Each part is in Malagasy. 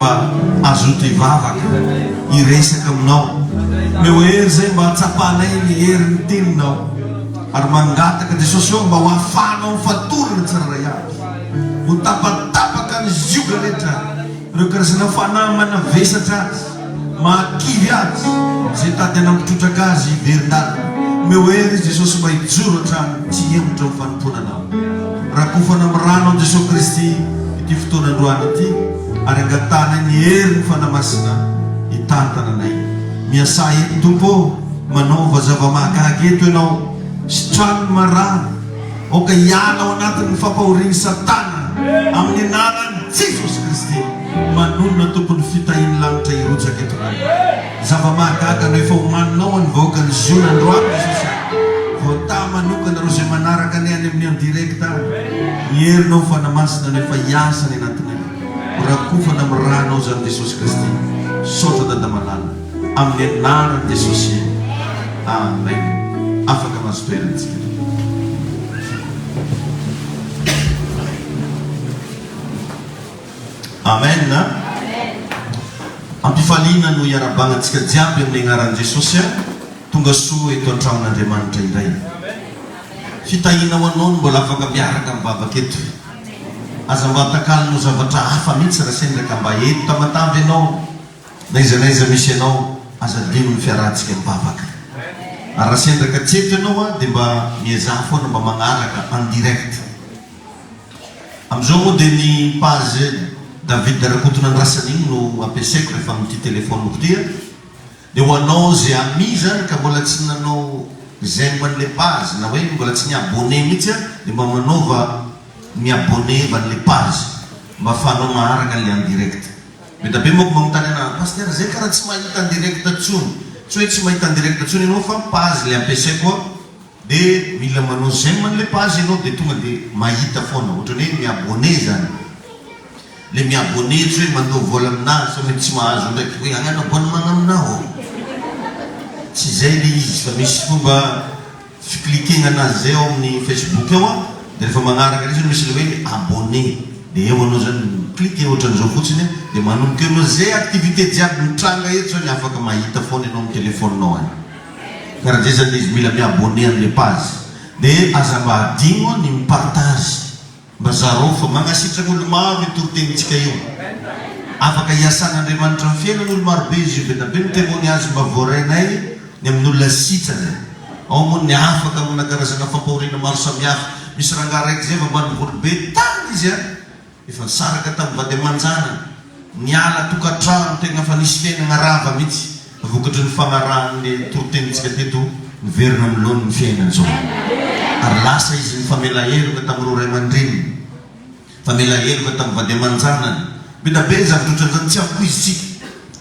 Mba azoto hivavaka, hiresaka aminao. Omeo hery izay mba hatsapanay ny herin'ny teninao. Ary mangataka, Jesosy ô, mba ho ahafahanao mifatorana ny tsirairay avy. Ho tapatapaka ny zioga rehetra, ireo karazana fanahy manavesatra azy, mahakivy azy, izay tady hanampitrotraka azy hiverin-dalana. Omeo hery izy, Jesosy, mba hijoro hatrany tsy hihemotra amin'ny fanompoana anao. Rakofana amin'ny ranon'i Jesoa Kristy. ity fotoana androany ity ary angatahana ny herin'ny Fanahy Masina hitantana anay. Miasà eto Tompo ô, manaova zava-mahagaga eto Ianao. Sitrano ny marary, aoka hiala ao anatin'ny fampahorian'i Satana amin'ny anaran'i Jesosy Kristy. Manonona Tompo ny fitahian'ny lanitra hirotsaka eto Ray. Zava-mahagaga no efa homaninao ho an'ny vahoakan'i Ziona androany Jesosy a! Voataha manokana ireo izay manaraka Anay any amin'ny en direct any. Ny herinao ho fanamasina no efa hiasa any anatinay. Ho rakofana amin'ny ranao izany Jesosy Kristy. Misaotra Dada malala. Amin'ny anaran'i Jesosy. Amen. Afaka mahazo toerana isika. Amen a! Ampifaliana no iarabagnantsika jiaby amin'ny agnaran'i Jesosy a! Tonga soa eto an-tragnon'Andriamanitra indray. Fitahiana ho anao ny mbola afaka miaraka mivavaka eto. Aza mba atakalina ho zavatra hafa mihitsy raha sendra ka mba eto Tamatave ianao, na aiza na aiza misy anao, aza adino ny fiarahantsika mivavaka. Ary raha sendra ka tsy eto ianao a, dia mba miezaha foana mba magnaraka en direct. Amin'izao moa dia ny page David Rakotonandrasan'iny no ampiasaiko rehefa amin'ity téléphone-ko ity a! Dia ho anao ze ami zany ka mbola tsy nanao j'aime an'le page na hoe mbola tsy ni-abonné mihitsy a! dia mba manaova mi-abonné va an'le page mba afahanao maharaka an'le en direct. Be da be manko manontany ana a! Pasitera zay karaha tsy mahita en direct tsony! Tsy hoe tsy mahita en direct tsony ianao fa page le ampiasaiko a! De mila manao j'aime anle page enao de tonga de mahita foana otrany hoe mi abonner zany le mi abonner tsy hoe mandoa vola amina sa mety tsy mahazo ndraiky hoe agnano abonnement amina ô tsy zay le izy fa misy fomba fi cliquegna anazy zay ao aminy facebook ao a de refa magnaraka reo zany misy le hoe abonner de eo anao zany mi cliquer otrany zao fotsiny a de manomboka eo anao ze activite jiaby mitranga eto zany afaka mahita foana enao am telephone nao any. Ka raha zay zany izy mila mi abonner amle page de aza mba adino ny mi partage mba zarao fa magnasitraka olo maro io toritenintsika io afaka hiasan'Andriamanitra am fiainana olo maro be izy io be da be ny temoignage mba voarainay ny amin'olona sitrana ao moa ny afaka amina karazana fampahoriana maro samihafa misy rangah raiky zay vambany voly be tany izy a Efa zanaka tamin'ny vady aman-janany, niala tokantrano tegna fa nisy fiainagna rava mitsy vokatry ny fagnarahan'le toritenintsika teto miverina amin'ny laoniny ny fiainany zao. Ary lasa izy nifamela heloka tamin'ireo ray aman-dreniny, nifamela heloka tamin'ny vady aman-janany. Beda be ny zavatra otran'izany, tsy ampoizintsika.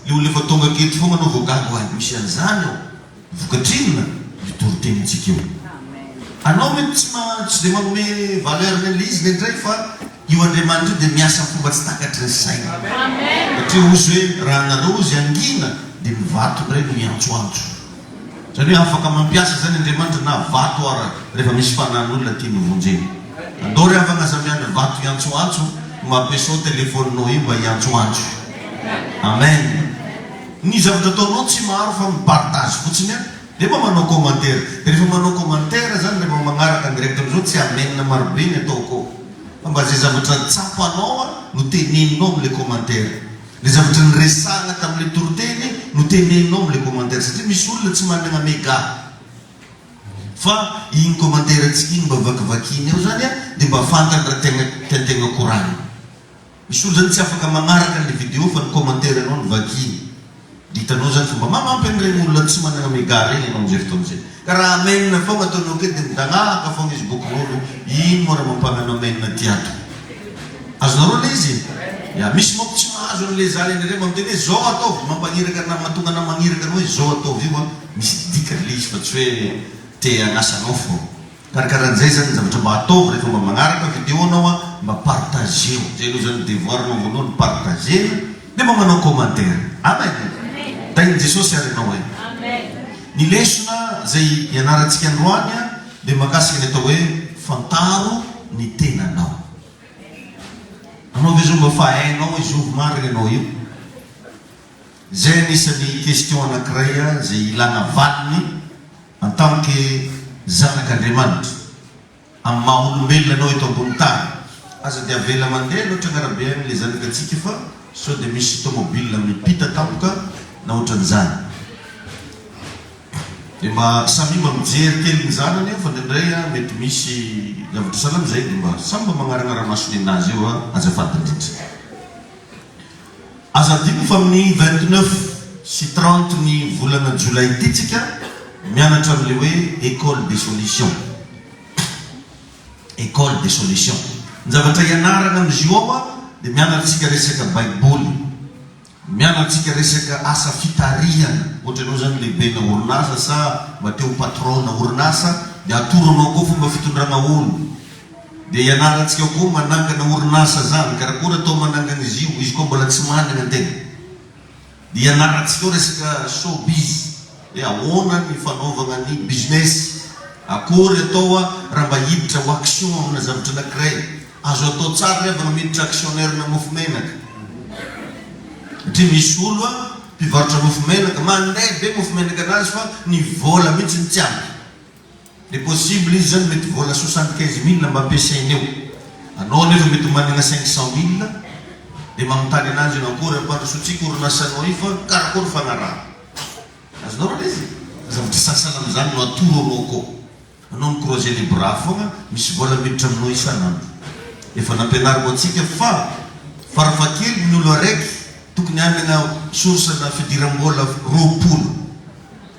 Le olona efa tonga aketo fogna anao vao gaga, oay misy an'izany ao? Vokatrinona io toritenintsika io? Anao mety tsy tsy dia manome valeur ny an'ilay izy indraindray fa io Andriamanitra io dia miasa amin'ny fomba tsy takatry ny saina. Satria ozy hoe raha nareo ozy hangina dia ny vato indray no hiantsoantso. Izany hoe afaka mampiasa izany Andriamanitra na vato ara rehefa misy fanahin'olona tiany hovonjena. Andao re havagna aza miandry vato hiantsoantso no mampiasao telefoninao io mba hiantsoantso. Amen. Ny zavatra ataonao tsy maro fa mi partage fotsiny an! Dia mba manao commentaire! Dia rehefa manao commentaire zany rehefa magnaraka ny règle zao tsy amen marobe ny atao ko! Fa mba zay zavatra tsapanao an no teneninao am le commentaire! Le zavatra niresahana tam le toriteny no teneninao am le commentaire! Satria misy olona tsy managna mega! Fa igny commentaire antsika igny mba vakivakiany ao zany an dia mba fantany raha tegna tiantegna koragnina! Misy olo zany tsy afaka magnaraka anle video fa ny commentaire anao no vakiny de hitanao zany fa mba magnampy an'iregny olona tsy magnagna mega regny anao amzay fotoagna zay ka raha amen fogna ataonao ke de midagnahaka fogna izy boky rôlo ino moa raha mampagnano amen aty ato azonareo le izy ya misy manko tsy mahazo anle zany ndraindray mba miteny hoe zao ataovy mampagniraka na mahatonga anao magniraka anao hoe zao ataovy io an misy dikany le izy fa tsy hoe te hagnasa anao fogna. Ary karaha zay zany ny zavatra mba ataovy rehefa mba magnaraka video nao an mba partageo zay aloha zany devoir nao voalohany partagena de mba manao commentaire amen e tahin'i Jesosy ary ianao e ny lesona zay ianarantsika androany an de mahakasika ny atao hoe fantaro ny tenanao anao ve zao mba fa hainao izovy marina ianao io zay anisan'ny question anakiray an zay ilana valiny En tant que zanak'Andriamanitra, amin'ny maha olombelona anao eto ambony tany, aza dia avela mandeha loatra ny arabe any ilay zanakatsika fa sao dia misy tomobile mipita tampoka na ohatran'izany. Dia mba samia mba mijery kely ny zanany eo fa indraindray an mety misy zavatra sahala amin'izay dia mba samy mba magnaragnara maso nen'azy eo an azafady indrindra. Aza adino fa amin'ny vingt-neuf sy trente ny volana jolay ity tsika mianatra an'ilay hoe Ecole des solutions. Ecole des solutions. Ny zavatra hianarana amin'izy io ao dia mianatra antsika resaka baiboly, mianatra antsika resaka asa fitarihana, ohatra ianao izany lehibena orinasa sa mba te ho patron-na orinasa dia atoro anao koa fomba fitondrana olo. Dia ianarantsika koa manangana orinasa zany karakôry atao manangana izy io izy koa mbola tsy manana ny tegna dia ianarantsika koa resaka show biz hoe ahoana ny fanaovagna ny business akôry atao a raha mba hiditra ho action amina zavatra anakiray azo atao tsara re vao miditra actionnaire na mofo menaka satria misy olo a mpivarotra mofo menaka mandray be mofo menaka anazy fa ny vôla mihitsy no tsy ampy Le possible izy zany mety vola soixante quinze mille mba ampiasainy eo. Anao anefa mety managna cinq cent mille de manontany ananjy eo akory ampandrosoantsika orinasanao io fa karakory fagnarahana. Azonao raha lay zay. Zavatra sasany amizany no atoro anao akao. Anao mi croiser les bras fogna, misy vola miditra aminao isanandro. Efa nampianariko antsika fa fara fakely ny olo araiky tokony hanagna source na fidirambola roapolo.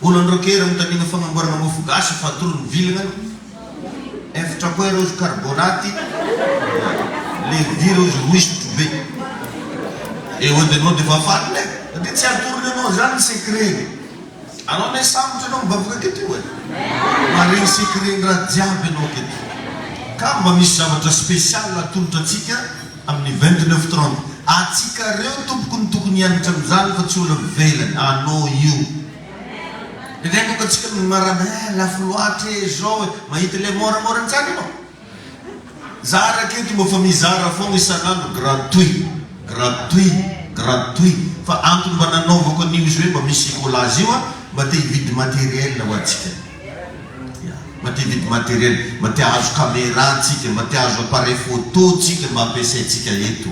Olon-droa kely mitangina fagnamboarana mofo gasy fatorry ny vilignany, eftra koa ireo karbonaty, levira izy roa izy trouver et ody anao dia efa faly ne, dia tsy atorony anao izany ny secret-ny, anao ne sambotry anao mivavaka aketo io e, maharegny secret-ny raha jiaby anao aketo, ka mba misy zavatra special atolotra antsika Amin'ny vingt neuf trente atsikareo tompoko no tokony hianatra amin'izany fa tsy olona ivelany anô io. Indraindray moa ka tsika no marana eh lafo loatra eh zao eh mahita ilay môramôra ntsany anô. Za raketo mba fa mizara foagna isan'andro gratuit gratuit gratuit fa antony mba nanaovako an'io izy hoe mba misy écolage io an mba te hividy matériel ho antsika. Mba te hividy matériel, mba te hahazo camera tsika, mba te hahazo appareil photo tsika mba ampiasaintsika eto.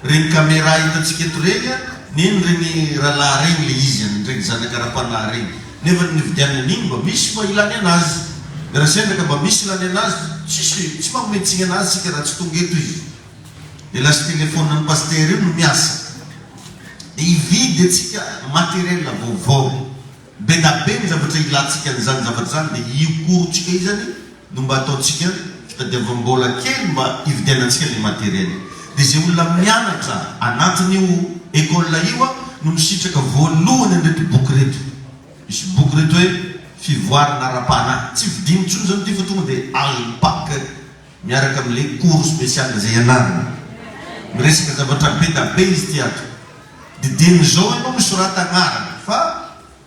Regny camera hitantsika eto regny an, neny regny rahalahy regny le izy an, regny zanaka ara-panahy regny. Nefa ny nividianana an'igny mba misy fa ilany anazy. De raha sendra ka mba misy ilany anazy, tsisy, tsy manome tsiny anazy tsika raha tsy tonga eto izy. De lasa téléphone an'i Pasteur io no miasa. De hividy atsika matériel vaovao. Be da be ny zavatra ilantsika an'izany zavatra izany dia io cours-ntsika io izany no mba ataontsika fitadiavam-bola kely mba hividianantsika ilay matériel. Dia izay olona mianatra anatin'io école io no misitraka voalohany an'ireto boky ireto. Misy boky ireto hoe Fivoarana ara-panahy. Tsy vidiana intsony izany ity fa tonga dia azo pack miaraka amin'ilay cours spécial izay ianarana. Miresaka zavatra be da be izy ity ato. Dideno izao aloha ny sorata agnarana fa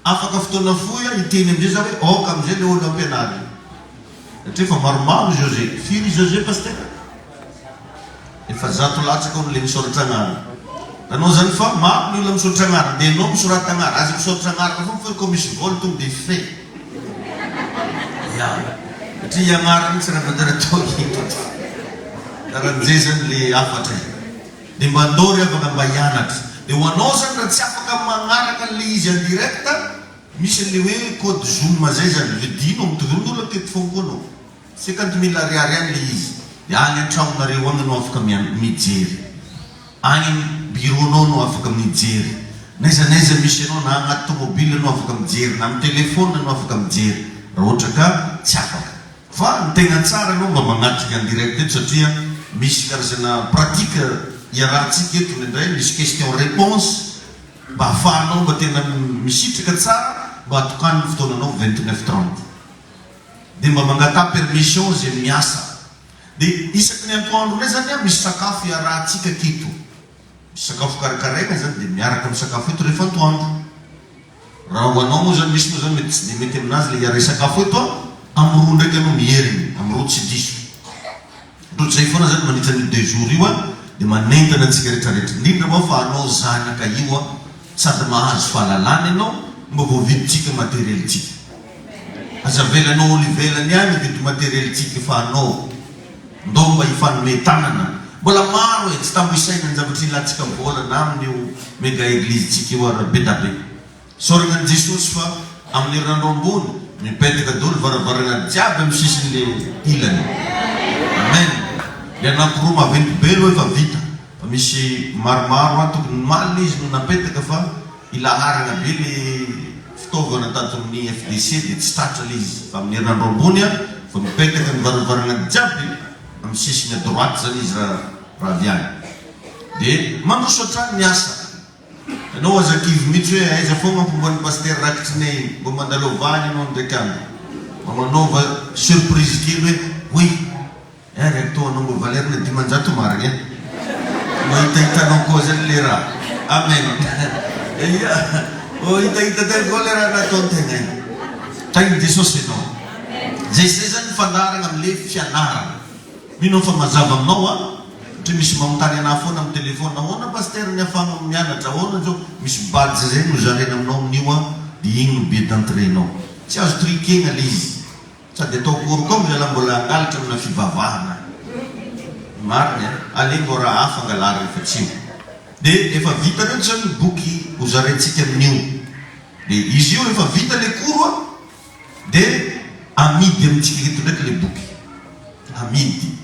afaka fotoana fohy aho hiteny amizay za hoe ok amizay le olo ampianaro io satria efa maromaro ry José, firy i José Pasitera? efa zato latsaka hono le misaoratra agnarana raha anao zany fa maro ny olona misaotra agnarana de enao misorata agnarana aza misaotra agnarana foana fa koa misy vola tonga de fay ya satria i agnarana tsy raha manjary atao eto raha amizay zany le hafatra e. Dia mandao ry havana mba hianatra. Dia ho anao zany raha tsy afaka magnaraka an'ilay izy en direct, misy an'ilay hoe code zoom zay zany, vidinao, mitovy amin'olona teto foagna koa anao. Cinquante mille ariary any ilay izy. Dia any an-tragnonareo agny no afaka mian- mijery. Agny am bureau-nao no afaka mijery. N'aiza n'aiza misy anao, na agnaty tomobile anao afaka mijery, na am telephone anao afaka mijery. Raha ohatra ka tsy afaka. Fa ny tegna tsara aloha mba magnatrika en direct eto satria misy karazana pratique iarahantsika eto indraindray misy question réponse mba afahanao mba tena misitraka tsara mba atokano ny fotoananao vingt neuf trente de mba mangataha permission ze miasa de isaky ny antoandro ndray zany a misy sakafo iarahantsika aketo misy sakafo karakaraina zany de miaraka misakafo eto rehefa antoandro Raha ho anao moa zany misy moa zany mety tsy dia mety aminazy le hiaray sakafo eto an! Am roa ndraiky aloha mierigny, am roa tsy diso. Otrany zay foana zany mandritra an'io deux jours io an! Dia manentana antsika rehetra rehetra, indrindra moa fa anao zanaka io an! Sady mahazo fahalalana ianao, mba voavidintsika materiel-tsika. Aza avela anao olo ivelany any hividy materiel tsika efa anao. Ndao mba hifanome tanana. Mbola maro e tsy tambo isaina ny zavatra ilantsika vola na amin io mega eglise tsika io ary be da be. Soragna an'i Jesosy fa amin'ny herinandro ambony mipetaka doly varavaragna jiaby amin'ny sisiny le ilany. Amen. Le anakiroa maventy be lo efa vita fa misy maromaro ato ny malina izy no napetaka fa Ilaharana be le fitaovana tadin'ny FDC dia tsy tratra le izy fa amin'ny herinandro ambony a vao mipetaka ny varavarana jiaby amin'ny sisiny à droite zany izy ra ra avy any de mandroso hatrany ny asa ianao aza kivy mitsy hoe aiza foagna ampomban'ny pasitera rakitry ne iny mba mandalao vahany ianao ndraiky andro mba manaova surprise kely hoe oui Gaga ny tohanao mba valerne dimanjato marigny a! Mahitahitanao koa zany le raha! Amen! Eia! Oh hitahita tena koa le raha nataony tegna io! Tahin'i Jesosy enao! Zay zay zany ny fandaharagna am le fianaragna! Mino aho fa mazava aminao a! Satria misy manontany anah foana am telephone, ahoana Pasteur ny afahagna mianatra, ahoana zao? Misy badge zay nozaraina aminao amin'io a! De igny no billet d'entrée nao! Tsy azo truquegna le izy! Sady atao akory koa milalao mbola hangalatra amina fivavahana marina e! Aleo vao raha hafa angalarina fa tsy io. De efa vita reo zany ny boky ho zaraintsika amin'io. De izy io rehefa vita le koro a! de amidy amintsika eto ndraiky le boky. Amidy.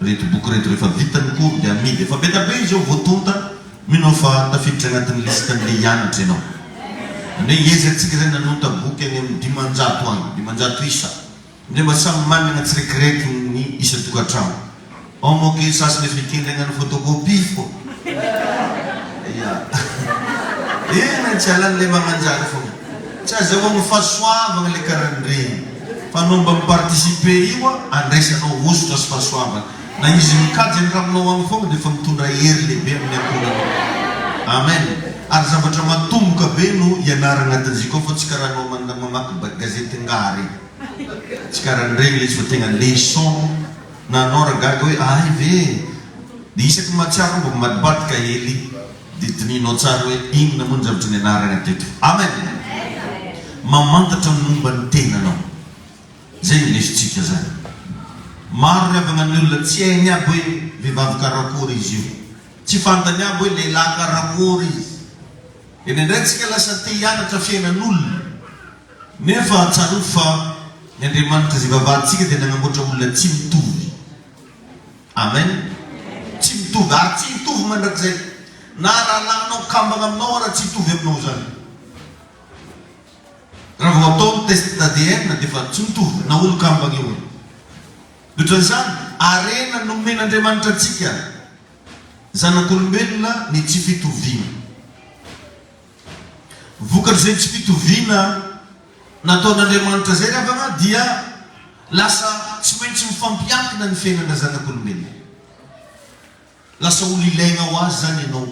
Reto boky reto rehefa vita ny cours dia amidy efa be dia be izao vao tonta, mino aho fa tafiditra anatin'ny liste an'ilay hianatra ianao. Zany hoe iaiza antsika izay nanonta boky any amin'ny dimanjato any, dimanjato isa, ndray mba samy manana tsiraikraiky ny isan-tokantrano ao manko e, sasany efa hikendragnan'ny photocopie fô ya ehh tsy halan'ilay magnanjany fôgna, tsy azahoan'ny fahasoavagna le karaha an'iregny. Fa anao mba mi-participer io an, andraisanao hosotra sy fahasoavana. Na izy mikajy any raminao any foana dia efa mitondra hery lehibe amin'ny ankohonanao. Amen. Ary zavatra matomboka be no ianaragna atin'iziko ao fa tsy karaha anao man mamaky ba gazety ngaha re. Tsy karaha an'iregny ilay izy fa tegna leçon. Na anao ra gaga hoe ahay ve e. Dia isaky ny mahatsiaro aho mba mivadibadika hely. Dia dinihinao tsara hoe inona moa ny zavatra nianarana teto. Amen! Mamantatra ny momba ny tenanao. Izay no indesintsika izany. Maro ry havana ny olona tsy hainy aby hoe vehivavy karakory izy io. Tsy fantany aby hoe lehilahy karakory izy. Dia indraindray tsika lasa te hianatra fiainan'olona. Nefa tsarovy fa ny Andriamanitra izay vavahantsika dia nanamboatra olona tsy mitovy. Amen! Tsy mitovy ary tsy hitovy mandrakizay na rahalahinao kambana aminao ara tsy hitovy aminao izany. Raha vao atao ny test d'ADN dia efa tsy mitovy na olo kambana io ary. Mihoatra an'izany, harena nomen'Andriamanitra antsika zanak'olombelona ny tsy fitoviana. Vokatr'izay tsy fitoviana nataon'Andriamanitra izay ry havana dia lasa tsy maintsy mifampiankina ny fiainana zanak'olombelona. Lasa olona ilaina ho Azy izany ianao.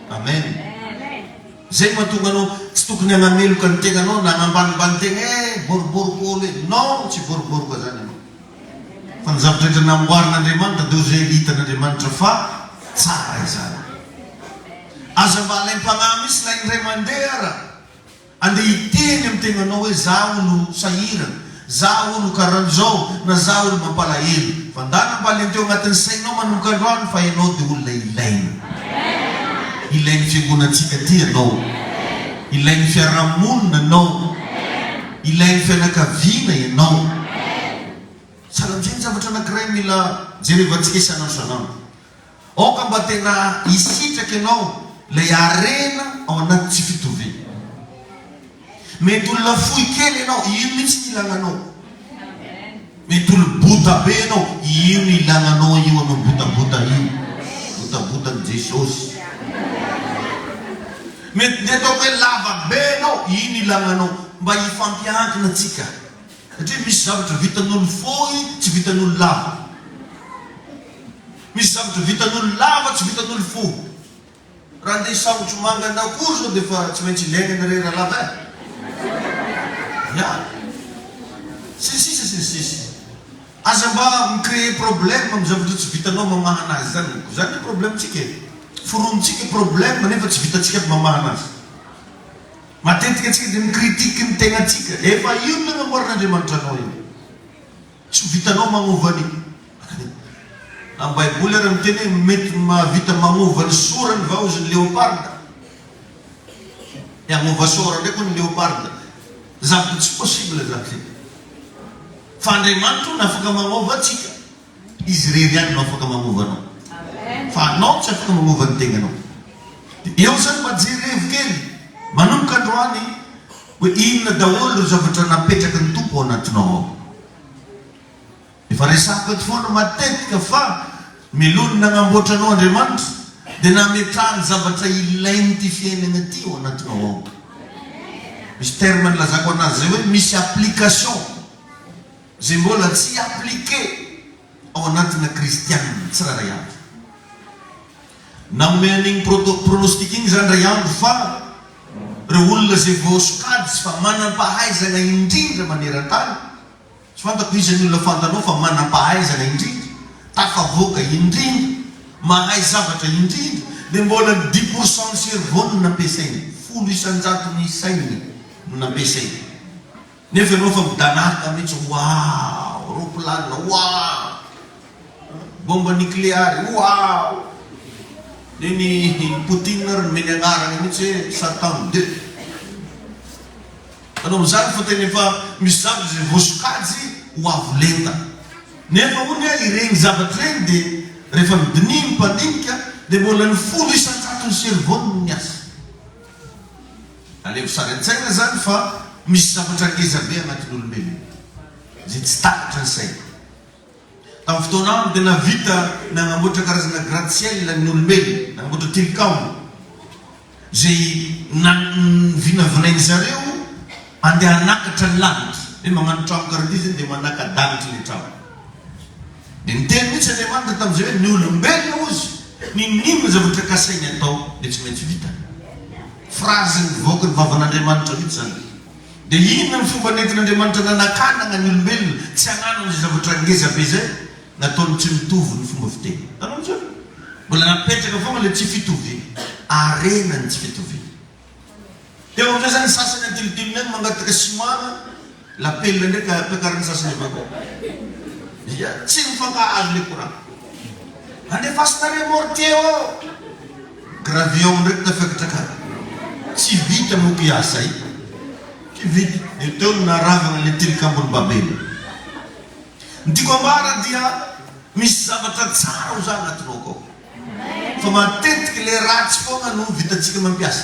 Amen. Izay no mahatonga anao tsy tokony hanameloka ny tenanao na hanambanimbany tena eh boriboriko olo eh. Non, tsy boriboriko izany ianao. Fa ny zavatra rehetra namboarin'Andriamanitra dia ho izay hitan'Andriamanitra fa tsara izany. Aza mba alaim-panahy mihitsy na indray mandeha ara. Andeha hiteny amin'ny tenanao hoe izaho hono sahirana, izaho hono karan'izao na izaho hono mampalahelo. Vandana mba alento eo anatin'ny sainao manomboka androany fa ianao dia olona ilaina. Ilain'ny fiangonantsika ity ianao. Ilain'ny fiarahamonina ianao. ilain'ny fianakaviana ianao. Salantsay ny zavatra anankiray mila jerevantsika isan'andro isan'andro. Aoka mba tena hisitraka ianao ilay harena ao anaty tsy fitoviana. Mety olona fohy kely ianao, io mihitsy no ilana anao. Mitolobota be enao ino ilana anao io anao botabota io botabota ny jesosy mety de ataoko hoe lava be enao ino ilana anao mba hifampiankina tsika satria misy zavatra vitan'olo fohy tsy vitan'olo lava misy zavatra vitan'olo lava tsy vitan'olo fohy Raha andeha saojo manga na akory zao dia efa tsy maintsy ilaina ny rera lava eh! Viavy. Sy ny sisa sy ny sisa. Aza mba mi-creer problème amin'ny zavatra tsy vitanao mamaha anazy izany moko. Izany ny problème-tsika e! Foronintsika problème nefa tsy vitantsika ny mamaha anazy. Matetika tsika dia mi-critique ny tenatsika. Efa io no nanamboaran'Andriamanitra anao io. Tsy ho vitanao magnova ny. Ny Baiboly ary miteny hoe mety mahavita magnova ny sora ny vaozy ny leoparda. Ny hagnova sora ndraiky ny leoparda. Zavatra tsy possible zany zay. Fa Andriamanitra hono afaka magnova antsika. Izy irery ihany no afaka magnova anao. Fa anao tsy afaka magnova ny tegnanao. Dia eo zany mba jerevo kely. Manomboka androany. Hoe inona daholo ireo zavatra napetraky ny Tompo ao anatinao ao? Efa resahiko eto foana matetika fa mialohan'ny nanamboatra anao Andriamanitra dia nametrahany zavatra ilain'ity fiainana ity ao anatinao ao. Misy terme nilazako anazy izay hoe misy application izay mbola tsy appliquer ao anatina kristianina tsirairay avy. Nanome an'igny proto pronostic igny zany Ray Andry fa reo olona ze voasokajy sy fa manampahaizana indrindra manerantany, tsy fantako iza ny olona fantanao fa manampahaizana indrindra, tafavoaka indrindra, mahay zavatra indrindra, dia mbola dix pour cent ny cerveau no nampiasainy, folo isan-jaton'ny sainy no nampiasainy. Nefa ianao efa midanarka mihitsy waaww ropilanina waaww bomba nikleary waaww neny i poutine ary nomeny agnarana mihitsy hoe satan deux manao an'izany fa tena efa misy zavatra izay voasokajy ho avo lenta nefa hono hoe ireny zavatra ireny dia rehefa midinia ny mpandinika dia mbola ny folo isan-jatony cerveau no miasa Aleho sary an-tsaina izany fa misy zavatra ngeza be anatin'olombelona izay tsy takatry ny saina. Tamin'ny fotoana aminy dia nahavita nanamboatra karazana gratte-ciel ny olombelona, nanamboatra tilikambo izay vinavinain'ny zareo andeha hanakatra ny lanitra. Hoe mamanao trano karaha ity zany dia manaka-danitra ilay trano. Dia niteny mihitsy Andriamanitra tamin'izay hoe ny olombelona ozy n'inon'inona zavatra kasainy atao dia tsy maintsy vitany. Phrase nivoaka ny vavan'Andriamanitra mihitsy izany. Dia inona ny fomba nentin'Andriamanitra nanakanagna ny olombelona tsy hanano izay zavatra ngeza be izay? Nataony tsy mitovy ny fomba fiteny. Hitanao misy hoe mbola napetraka foagna ilay tsy fitoviana. Harena ny tsy fitoviana. Teo amin'izay izany ny sasany antilotilony any mangataka simana. Lapela ndray ka ampiakariny sasany avy akao. Ia? Tsy mifankahazo le courant. Andefasina remorque ô! Gravion ndraiky tafiakitrakaky. Tsy vita moa ki asa i. Ki vita. Io teo no naharavagna le tilikambon'i Babena. Ny tiako ambara dia misy zavatra tsara ho za agnatinao akao. Fa matetiky le ratsy fogna no vitantsika mampiasa.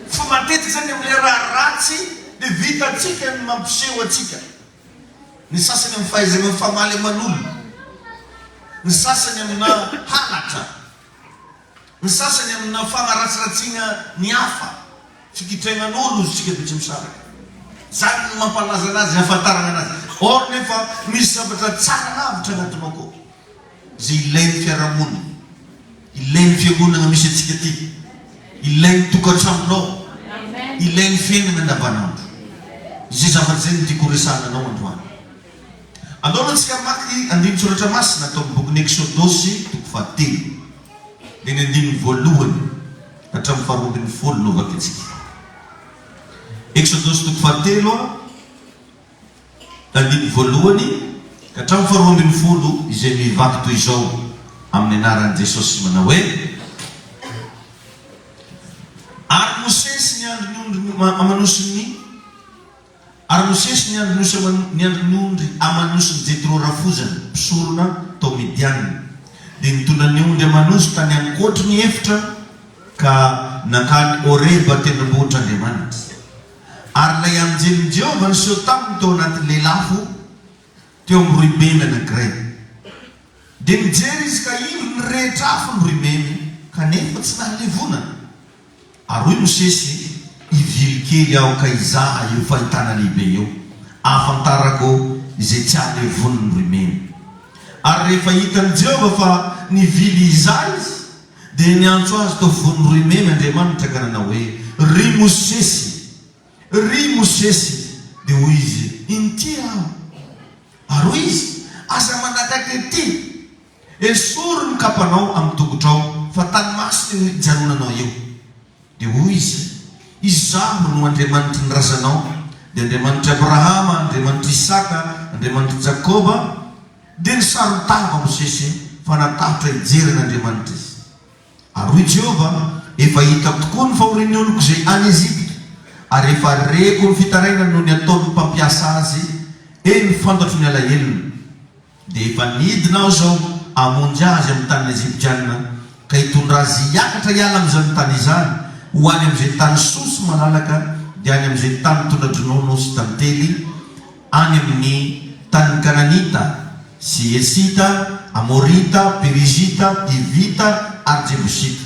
Fa matetika izany amin'ilay raha ratsy dia vitantsika ny mampiseho antsika. Ny sasany amin'ny fahaizana mifamaly aman'olona, ny sasany amina halatra, ny sasany amina fanaratsiratsiana ny hafa, fikitrainan'olo hozy tsika be tsy misaraka. Izany no mampalaza anazy, ahafantarana anazy. Or nefa misy zavatra tsara lavitra anatinao koa. izay ilain'ny fiarahamonina, ilain'ny fiangonana misy antsika ity, ilain'ny tokantranonao, ilain'ny fiainana andavanandro. Izay zavatra izay no tiako horesahana anao androany. Andao aloha isika hamaky andinin-tsoratra masina tao amin'ny bokin'ny Eksodosy toko fahatelo, dia ny andininy voalohany ka hatramin'ny faharoa ambin'ny folo no hovakintsika. Eksodosy toko fahatelo. Andininy voalohany ka hatramin'ny faharoa ambin'ny folo izay mivaky toy izao amin'ny anaran'i Jesosy manao hoe, Ary Mosesy ny andry ny ondry amanosin'i Ary Mosesy ny andry nosy ny andry ny ondry amanosin'i Jetro rafozany mpisorona tao Midiana dia nitondra ny ondry amanosy tany ankoatry ny efitra ka nankany Horeba tendrombohitr'Andriamanitra. Ary ilay anjelin'i Jehovah niseho taminy tao anatin'ny lelafo teo amin'ny roimemy anankiray. Dia nijery izy ka indro ny rehetra afo ny roimemy, kanefa tsy nahalevona. Ary hoy Mosesy, Ivily kely aho ka hizaha io fahitana lehibe io, hahafantarako izay tsy hahalevonin'ny roimemy. Ary rehefa hitan'i Jehovah fa nivily hizaha izy, Dia niantso azy tao vono roa imemy Andriamanitra ka nanao hoe, Ry Mosesy! Ry Mosesy! Dia hoy izy, Inty aho. Ary hoy izy, Aza manakaiky ety! Esory ny kapanao amin'ny tongotrao, fa tany masina io hijanonanao io. Dia hoy izy, Izaho no Andriamanitry ny razanao, dia Andriamanitr'i Abrahama, Andriamanitr'i Isaka, Andriamanitr'i Jakoba. Dia nisaron-tava ao Mosesy fa natahotra hijery an' Andriamanitra izy. Ary hoy Jehovah, Efa hitako tokoa ny fahorian'ny oloko izay any Ezipta, ary efa reko ny fitarainany noho ny ataon'ny mpampiasa azy, eny, fantatro ny alahelony. Dia efa nidina Aho izao hamonjy azy amin'ny tanin'ny Eziptiana, ka hitondra azy hiakatra hiala amin'izany tany izany, ho any amin'izay tany soa sy malalaka, dia any amin'izay tany mitondra dronono sy tantely, Any amin' ny tanin' ny Kananita sy Hesita, Amorita, Perizita, Hivita ary Jebosita.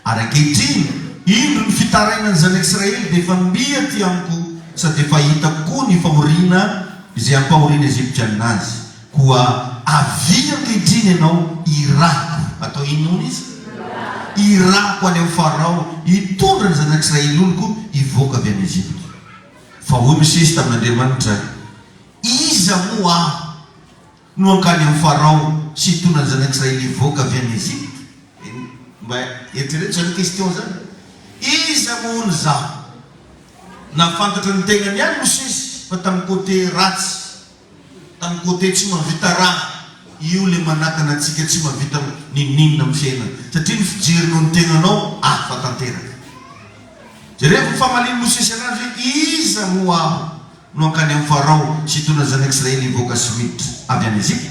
Ary ankehitriny, indro ny fitarainan' ny Zanak' Israely dia efa mby aty amiko, sady efa hitako koa ny fahoriana izay hampahoriana Egyptiana azy. Koa avia ankehitriny ianao hirahako. Atao inona hono izy? Hirahako any amin' i Farao hitondra ny Zanak' Israely oloko hivoaka avy any Egypta. Fa hoy Mosesy tamin'Andriamanitra, Iza moa aho no hankany amin'i Farao sy hitondra ny zanak'Israely hivoaka avy any Egypta? Eny, mba eritrereto izany question izany. Iza moa hono izaho? Nahafantatra ny tenany ihany Mosesy fa tamin'ny côté ratsy. Tany côté tsy mahavita raha io le manakana antsika tsy mahavita ninoninona am fiainana satria ny fijery noho ny tegnanao hafa tanteraka. Jerevo ny famalian'i Mosesy anazy hoe iza moa aho no hankany am Farao sy hitondra ny zanak Israely hivoaka sy miditra avy any Egypta?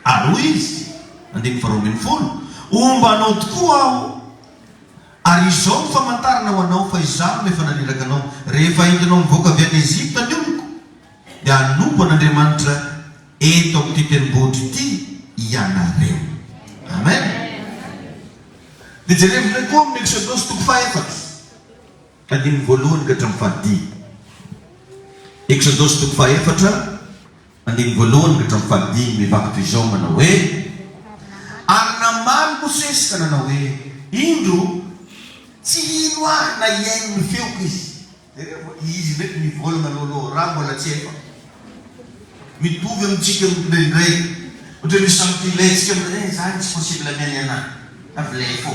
Ary hoy izy, andininy faharoa ambin'ny folo, homba anao tokoa aho ary izao no famantarana ho anao fa izaho no efa naniraka anao, rehefa entinao mivoaka avy any Egypta ny oloko, dia hanompo an' Andriamanitra eto amin' ity tendrombohitra ity ianareo. Amen. Dia jerevo indray koa amin'ny Eksodosy toko fahaefatra, andininy voalohany ka hatramin'ny fahadimy. Eksodosy toko fahaefatra, andininy voalohany ka hatramin'ny fahadimy, mivaky toy izao manao hoe, Ary namaly Mosesy ka nanao hoe, Indro, tsy hino ahy na hihaino ny feoko izy. Jereo fa izy ndraiky mivolagna lôlô raha mbola tsy efa mitovy amintsika mihitsy ndraindray ohatra misy samy filentsika aminay eh zany tsy possible amy any ana fa vilay fô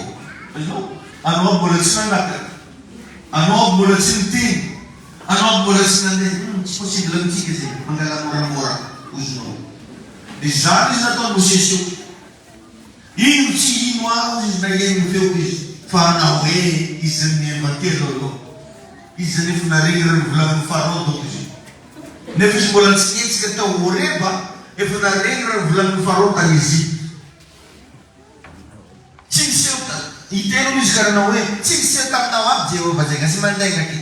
fa ianao anao aby mbola tsy nanaka anao aby mbola tsy niteny anao aby mbola tsy nandeha hum tsy possible amintsika zegny mangala môramôra ozonao de zany izy nataony mosesy io. Ino tsy ino aho izy na eny ho eo izy fa ana hoe izy mihemba telo aloha izy nefa naregny rah novolaminy farao donc izy nefa izy mbola nitsihetsika tao horeba efa naregny rah novolaminy farao tany Egypte tsy niseho ta itelo izy ka nanao hoe tsy niseho taminao avy Jehovah zegny aza mandainga aty.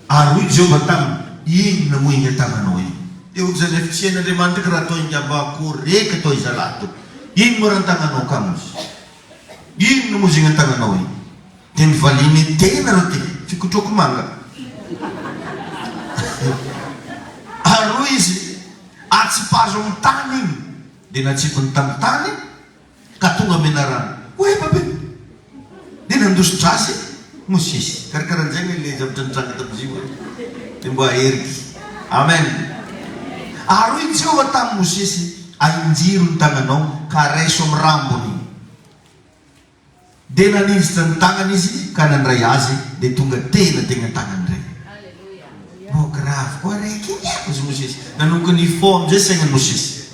Ary hoy Jehovah taminy, Inona moa iny an-tananao iny? Dia hoy izany Hafitsien'Andriamanitra, Ka raha toa ingamba koreka toa izalahy toa iny moa raha ny tananao ka misy? Inona moa izigny an-tananao iny? Dia nivaliany, Tena reo ty, fikotroko manga. Ary hoy izy, Atsipazo amin'ny tany iny. Dia natsipiny tamin'ny tany. Ka tonga menarana oay babe dia nandosy drasy e! Mosesy karakaran'izay ve ilay zavatra nitranga tamin'i Ziva e? Dia mba aheriko. Amen. Ary hoy Jehovah tamin'i Mosesy, Ahinjiro ny tagnanao ka raiso amin'ny rambony. dia nanindritra ny tagnany izy ka nandray azy dia tonga tena tegny an-tagnany rey. Mbô gravy koa rey ky ny akozy Mosesy. Nanomboka nifôha amin'izay saignan'i Mosesy.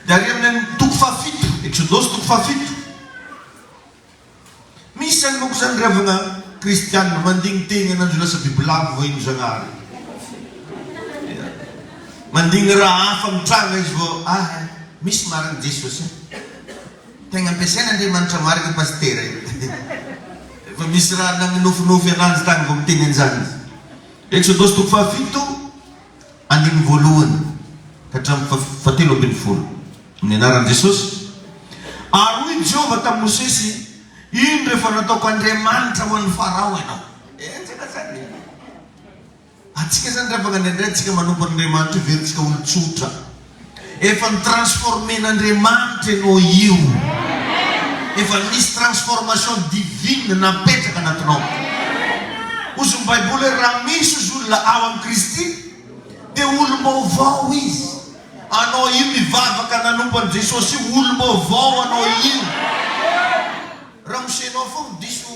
Dia ary amin'ny amin'ny toko fahafito, Eksodosy toko fahafito. Misy any manko zany ravagna kristianina mandigny tegna ananjy ho lasa bibilava vao ino Zagnahary. Ia. Mandigny raha hafa mitranga izy vao, ah eh, misy marigny Jesosy eh. Tegna ampiasain' Andriamanitra marina i Pasitera io fa misy raha nagnofinofy ananjy tany vao miteny an'izany izy. Eksodosy toko fahafito andininy voalohany ka hatramin'ny fahatelo ambin'ny folo, amin'ny anaran'i Jesosy, Ary hoy Jehovah tamin'i Mosesy, Ino rehefa nataoko andriamanitra ho an'i Farao ianao? Enjana zany e! Antsika zany revaka ny andraintsika manompo an'Andriamanitra io verintsika olon-tsotra efa ny transformer n'Andriamanitra enao io efa nisy transformation divine napetraka anatinao ozy ny baiboly hoe raha misy ozy olona ao amin'i Kristy dia olom-baovao izy anao io mivavaka nanompo an'i Jesosy io olom-baovao anao io ramose nao foagna diso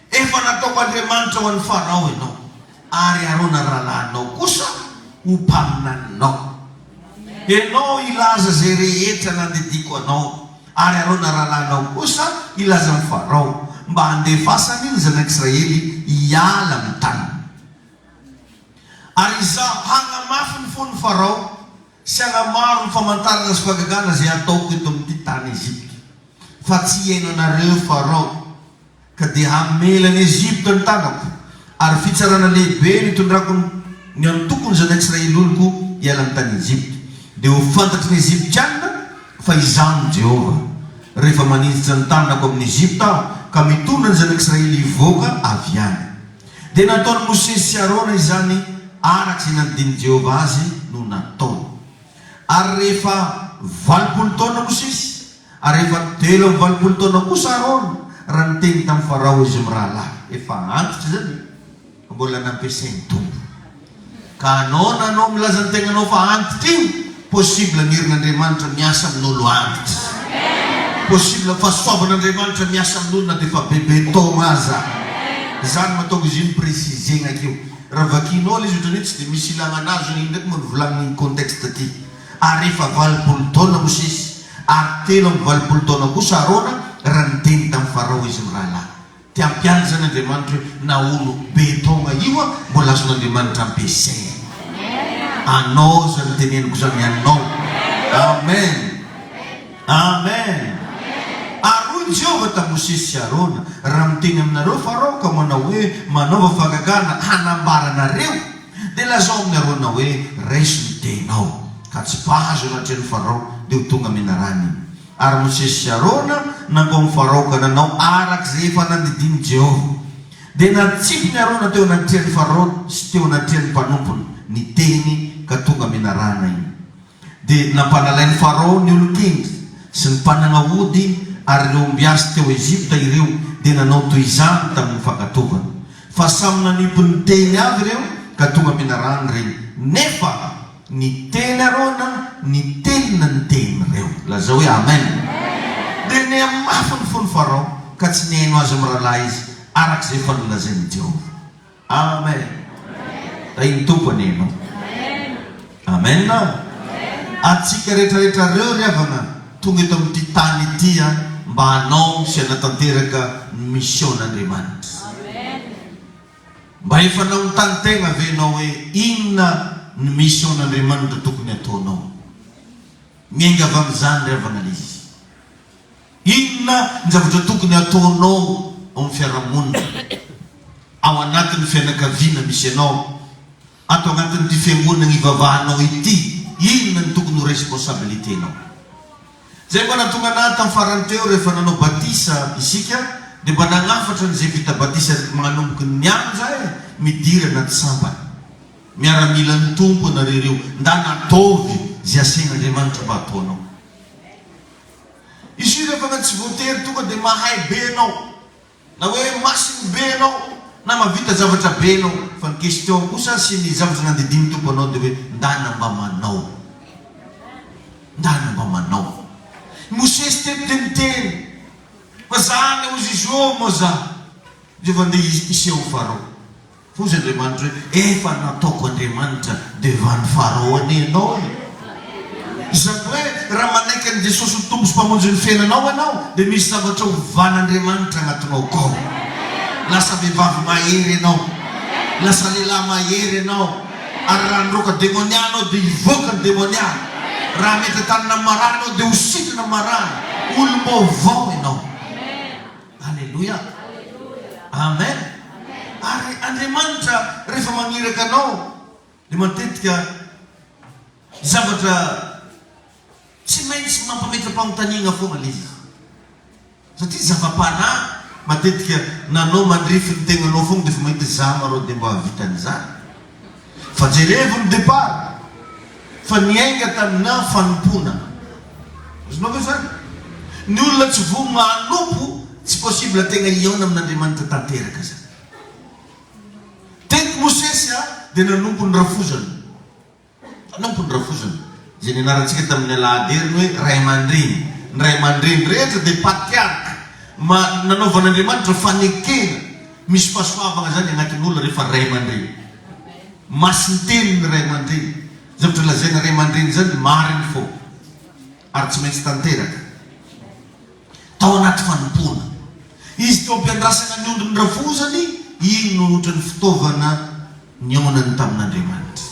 Efa nataoko andriamanitra ho an'i Farao ianao, ary Arona rahalahinao kosa ho mpaminaninao. Ianao hilaza izay rehetra nandidiako anao, ary Arona rahalahinao kosa hilaza amin'i Farao, mba handefasany ny zanak'Israely hiala amin'ny taniny. Ary izaho hagnamafy ny fon'i Farao, Sy hanamaro ny famantarana sy fahagagana izay hataoko eto amin'ity tany Egypta, fa tsy hihaino anareo Farao, ka dia hamela an'i Egypta ny tanako, ary fitsarana lehibe no hitondrako ny antokony zanak'Israely oloko hiala ny tany Egypta. Dia ho fantatry ny Egyptiana fa izaho no Jehovah, rehefa maninjitra ny tanako amin'i Egypta aho, ka mitondra ny zanak'Israely hivoaka avy any. Dia nataon'i Mosesy sy Arona izany araka izay nandinin'i Jehovah azy no nataony. Ary rehefa valopolo taona Mosesy, ary rehefa telo amby valopolo taona kosa Arona, raha niteny tamin'i Farao izy mirahalahy. Efa antitra izany e! Mbola nampiasain'ny Tompo. Ka anao na anao milaza ny tegnanao fa antitra io, possible ny herin'Andriamanitra miasa amin'olo antitra. Possible fahasoavan'Andriamanitra miasa amin'olo na dia efa bebe taogna aza. Izany mahatonga izy io mi-preciser-gna akeo. Raha vakianao ilay izy ohatran'ny hoe tsy dia misy ilagna anazy io indraiky moa ny volagnin'igny contexte ty. Ary efa valopolo taona Mosesy ary telo amby valopolo taona kosa Arona raha niteny tamin'ny Farao izy mirahalahy. Dia hampianatra izany Andriamanitra hoe na olo be taogna io an mbola azon'Andriamanitra ampiasaigny. Anao izany teneniko izany anao. Amen. Amen. Ary hoy i Jehovah tamin'i Mosesy sy Arona, Raha miteny aminareo Farao ka manao hoe, Manaova fahagagana hanambara anareo, dia lazao amin'i Arona hoe, Raiso ny tehinao, ka tsipahazo anatrehan'i Farao, dia ho tonga menarana i. Ary Mosesy sy Arona nankao amin'i Farao ka nanao araka izay efa nandidian'i Jehovah. Dia natsipin'i Arona teo anatrehan'i Farao sy teo anatrehan'ny mpanompony ny tehiny ka tonga menarana iny. Dia nampanalain'i Farao ny olon-kendry sy ny mpanagna ody ary ireo ombiasy teo Egypta ireo dia nanao toy izany tamin'ny fankatovany. Fa samy nanipy ny tehiny avy ireo ka tonga menarana ireny. Nefa. Ny tely arô na ny telo ny niteny reo. Lazao hoe Amen. Dia niha mafy ny fon'i Farao, ka tsy nihaino azy mirahalahy izy, araka izay efa nolazain'i Jehovah. Amen. Tahin'ny Tompo anie ianao. Amen. Antsika rehetrarehetra reo ry havana tonga eto amin'ity tany ity mba hanao sy hanatanteraka ny mision'Andriamanitra. Mba efa nanontany tegna ve enao hoe inona ny mission n'Andriamanitra tokony ataonao? Miainga avy amin'izany ry havana Lise. Inona ny zavatra tokony ataonao ao amin'ny fiarahamonina, ao anatin'ny fianakaviana misy anao? Ato anatin'ity fiangonana ivavahanao ity, inona no tokony ho responsabilité-nao? Izay mba nahatonga an'ahy tamin'ny farany teo rehefa nanao batisa isika dia mba nagnafatra an'izay vita batisa rehetra magnomboky nianja eh, midirana an-tsambany. Miaramilan'ny Tompo anareo ireo, ndà nataovy izay asain'Andriamanitra mba hataonao. Izy io rehefa tsy voatery tonga dia mahay be ianao. Na hoe masiny be ianao na mavita zavatra be ianao fa ny question kosa sy ny zavatra nandidian'ny Tompo anao dia hoe ndana mba manao ndana mba manao I Mosesy teto dia niteny fa za anie ozy Joe moa za dia efa ndeha hiseho Farao Hoy izy Andriamanitra hoe, Efa nataoko Andriamanitra devan'i Farao anie ianao e! Izany hoe, raha manaiky an'i Jesosy ho Tompo sy Mpamonjin'ny fiainanao ianao, dia misy zavatra hovan'Andriamanitra anatinao kao. Lasa vehivavy mahery ianao. Lasa lehilahy mahery ianao. Ary raha niroaka demonia ianao dia hivoaka ny demonia. Raha mety an-tanana amin'ny marary ianao dia ho sitrana ny marary. Olom-baovao ianao. Aleloia! Amen! Ary Andriamanitra rehefa maniraka anao dia matetika zavatra tsy maintsy mampametra-panontaniana foana ilay izy. Satria zava-panahy matetika na anao mandrify ny tegnanao foana dia efa mahita hoe za ma rô dia mba hahavita an'izany? Fa jerevo ny depart fa niainga taminà fanompoana. Azonao ve izany? Ny olona tsy voa manompo tsy possible tegna hihaona amin'Andriamanitra tanteraka zany. Teto Mosesy a dia nanompo ny rafozany. Nanompo ny rafozany. Izay nianarantsika tamin'ny alahady heriny hoe ray aman-dreny. Ny ray aman-dreny rehetra dia patriarka ma nanaovan'Andriamanitra fanekena. Misy fahasoavagna zany agnatin'olo rehefa ray aman-dreny. Masin-teny ny ray aman-dreny. Zavatra lazaina ray aman-dreny zany marigny fô ary tsy maintsy tanteraka. Tao agnaty fanompoana. Izy teo am-piandrasagna ny ondrin'ny rafozany, igny no hotran'ny fitaovana nionany tamin'Andriamanitra.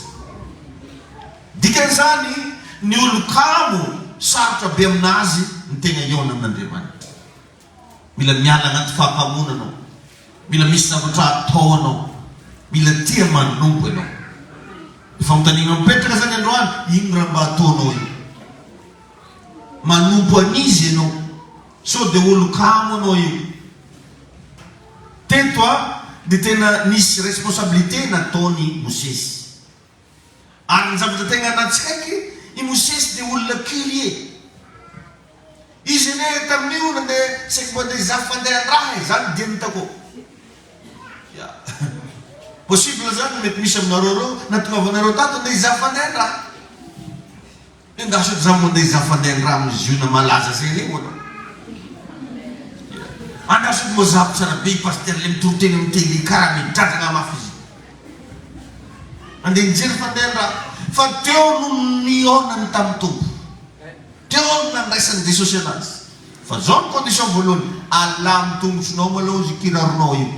Dikan'izany, ny olo kamo, sarotra be aminazy ny tegna iona amin'Andriamanitra. Mila miala anaty fahapamoana anao. Mila misy zavatra atao anao. Mila tia manompo ianao. Ny fanontaniana mipetraka izany androany, inona raha mba ataonao io? Manompo an'iza ianao? Sao dia olon-kamo anao io? Teto dia tena nisy responsabilité nataon'i Mosesy. Ary ny zavatra tegna natsikaiky, i Mosesy dia olona curieux. Izy anie tamin'io nandeha saiky mba te hizaha fandehan-draha e, zany dieny hitako ô. Ya. Possible zany mety misy aminareo reo, natongavanareo tato ndeha hizaha fandehan-draha. Dia angaha sao izany mandeha izaho fandeha andramo ny ziona malaza izay anie hono a! Angaha sao mazava tsara be i Pasitera ilay mitoriteny amin'ny télé karaha midradragna mafy izy andeha nijery fandeha andramo fa teo no nihaonany tamin'ny Tompo, teo no nandraisan'i Jesosy anazy fa izao ny condition voalohany, alà amin'ny tongotronao malao izy io kiraronao io.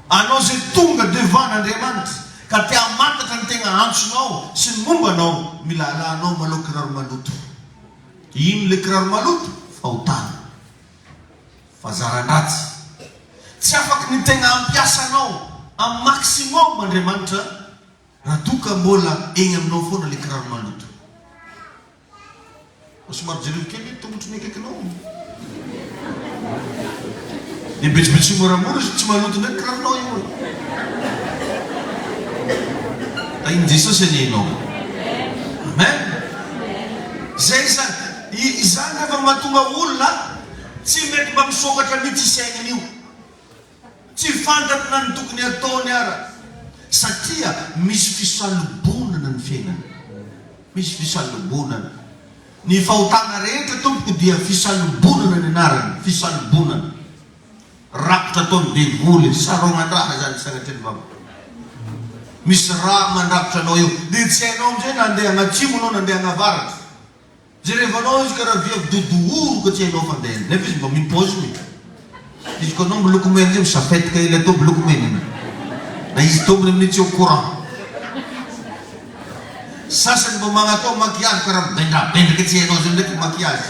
Anao izay tonga devant an'Andriamanitra ka te hamantatra ny tegna antsonao sy ny momba anao, mila alanao malao kiraro maloto. Ino le kiraro maloto? Fahotana. Fahazaran-dratsy. Tsy afaky ny tegna hampiasa anao am maximum Andriamanitra raha toa ka mbola egny aminao foana le kiraro maloto. Mba somary jereo kely ny tongotry ny akaikinao. Dia betsibetsoho moramora izy, tsy maloto indray ny kiraronao io e. Tahin'i Jesosy anie ianao. Amen. Izay izany. Izany rehefa mahatonga olona tsy mety mba misokatra mihitsy isainy io. Tsy fantako na ny tokony ataony ara satria misy fisalobonana ny fiainana. Misy fisalobonana. Ny fahotana rehetra tompoko dia fisalobonana ny anarany. Fisalobonana. Rakotra ataony devoly. Sarognan-draha izany sagnatria ny vavaka. Misy raha mandrakotra anao eo. Dia tsy hainao amin'izay na andeha agnatsimo anao na andeha agnavaratra. Jereva anao izy ka raha vy avy dia dohoroka tsy hainao fa ndeha nefa izy mba mipaozina e! Izy ko anao miloko mena izay misafetika ilay tao miloko mena iny na izy tompony amin'iny tsy au courant. Sasany mba magnatao maquillage ka raha mibendrabendraka tsy hainao izay ndraiky maquillage.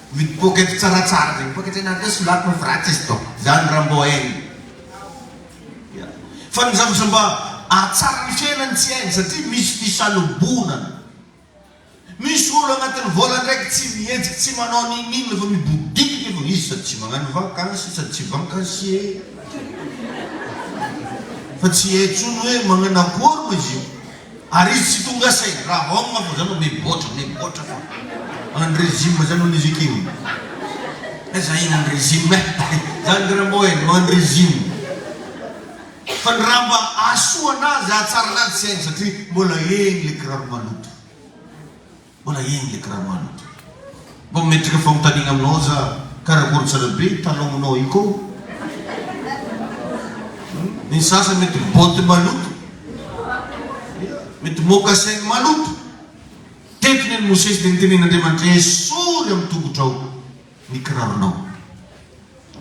Mipoaka eto tsara tsara zay mipoaka etsy anareo solato no vratis dok zany raha mbô hainy ya fa ny zava mba ahatsara ny fiainany tsy hainy satria misy fisalobonana misy olo agnatiny volandraiky tsy mihetsiky tsy manao ninin fa mibodiky nefa izy sady tsy magnano vakansy sady tsy vankansie fa tsy hay tsony hoe magnano akory moa izy io Ary izy tsy tonga saina raha homma fa zany miboatra miboatra fa any régime zany hono izy ekeo eh za iny any régime eh za ndry Rambo eh no any régime fa ny raha mba ahasoa anazy ahatsara anazy tsy hainy satria mbola egny le kiraro maloto. Mbola eny le karamanao ty. Mba metrika fanontaniagna aminao za, karakory tsara be i talon-gnao io koo? Ny sasany mety bottes maloto, ia, mety mocassins maloto. Teto ny an'i Mosesy dia nitenen'Andriamanitra, Esory amin'ny tongotrao ny kiraronao,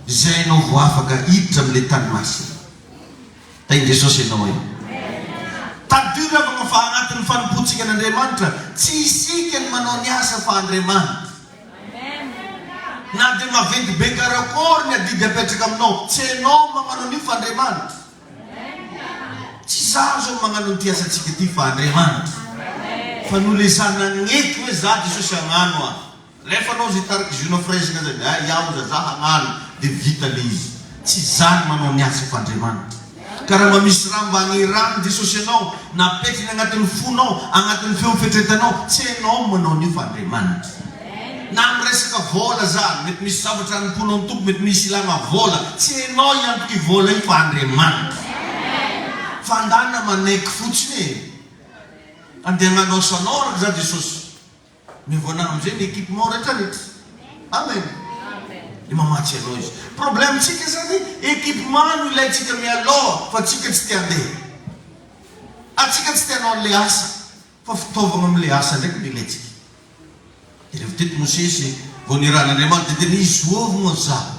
izay ianao vao afaka hiditra amin'ny le tany masina. Tahin'i Jesosy ianao e. Tadidio ry havana fa anatin'ny fanompoantsika an'Andriamanitra, tsy isika ny manao ny asa fa Andriamanitra. Na dia maventy be karakôry ny adidy apetraka aminao, tsy hainao ny mamanao an'io fa Andriamanitra. Tsy izaho izao no magnano an'ity asantsika ity fa Andriamanitra. Fa noho ilay izaho nagnety hoe izaho Jesosy hagnano aho. Rehefa anao izay tarika Juno of Raising izay dia hay aho hoza za hagnano dia vita ilay izy. Tsy izany manao ny asa f'Andriamanitra. Ka raha mba misy raha mba aneran'i Jesosy anao, na apetrany agnatin'ny fonao, agnatin'ny feon'ny fieritreretanao, tsy hainao ny manao an'io fa Andriamanitra. Na amin'ny resaka vôla zany, mety misy zavatra hanompoanao ny Tompo, mety misy ilagna vôla, tsy hainao i antoky vôla io fa Andriamanitra. Fandàna manaiky fotsiny e. Andeha hagnano asanao araka izany Jesosy. Mivôlagna amzay ny equipement rehetra rehetra Amen Dia mamatsy anao izy Problème tsika zany equipement no ilaintsika mialoha fa tsika tsy te handeha Ary tsika tsy te hanao anle asa fa fitaovagna amle asa ndraiky no ilaintsika Dia revo teto Mosesy vao nirahan'Andriamanitra dia nizoovogno zaho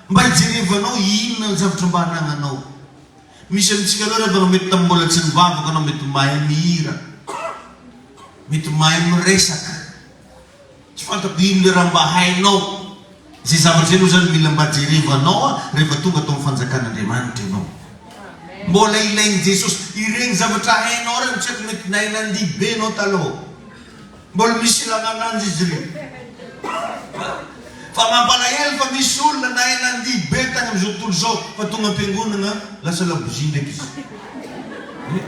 Mba hijerevanao inona ny zavatra mba anananao. Misy amintsika ireo rehefa nomety tamin'ny mbola tsy nivavaka anao mety mahay mihira, mety mahay miresaka. Tsy fantako inona le raha mba hainao. Izay zavatra izay aloha izany mila mba jerevanao rehefa tonga tao amin'ny fanjakan'Andriamanitra ianao. Mbola ilain'i Jesosy ireny zavatra hainao ireny, tsy haiko mety nahay nandihy be ianao taloha. Mbola misy ilana ananjy izy ireo. Fa mampalahelo fa misy olona nahay nandihy be tany amin'izao tontolo izao fa tonga am-piangonana lasa labozia ndraiky izy. Ie.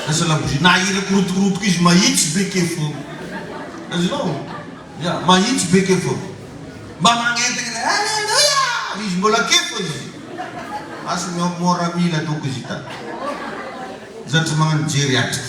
Lasa labozia. Na hira korotokorotoko izy mahitsy be kely foana. Azonao? Ia, mahitsy be kely foana. Mba magnentagna ilay Alléluia! Izy mbola kely foana izy. Asy ny ao mora mila doko izy hitany. Zatra magnano jery atrika.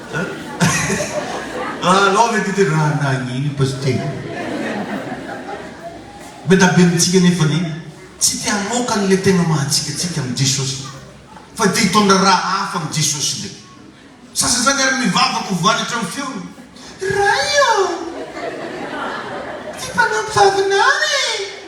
An anao ve ty tena nagnino pasitera? Be da be amintsika nefany tsy te hamoaka ny le tegna mahatsikatsika amin'i Jesosy fa te hitondra raha hafa amin'i Jesosy ndray. Sasasany ary mivavaka ho voany hatramin'ny feony, Ray ô! Ty mpanampy vavinao e!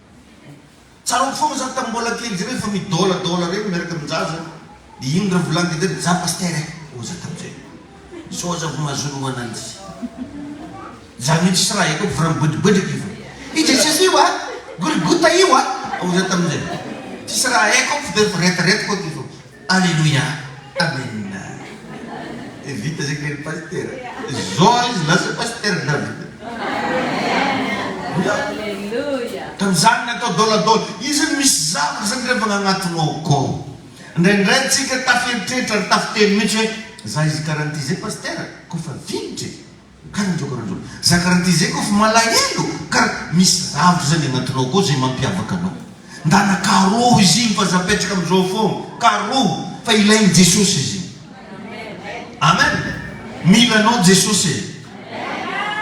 Tsaroako foana za tam mbola kely zay refa midôladôla reny miaraka am jaja de iny ra volagny de za pasitera eh hoy za tam zay sao aza ho mahazoanao ananjy za mihitsy tsy raha ekeko fa ra mibodobodraka io fa i jesosy io ah golgota io ah hoy za tam zay tsisy raha ekeko fa de reto reto ko aky fa. Aleloia Amen eh vita zay kely pasitera zao izy lasa pasitera dra vita Aleloia Tamzany natao dôladôla izy no misy zavatra zany refa gnagnatinao akao ndraindray antsika taferitreritra ary tafiteny mitsy hoe za izy karanty zay pasitera kofa vinitra e Kara indreo kara indreo. Za kara ty zay kof malahelo kara misy zavtr zany agnatinao akao zay mampiavaka anao. Ndana karoho izy igny fa za apetraka amzao fôgna. Karoho fa ilaigny Jesosy izy igny. Amen. Mila anao Jesosy e.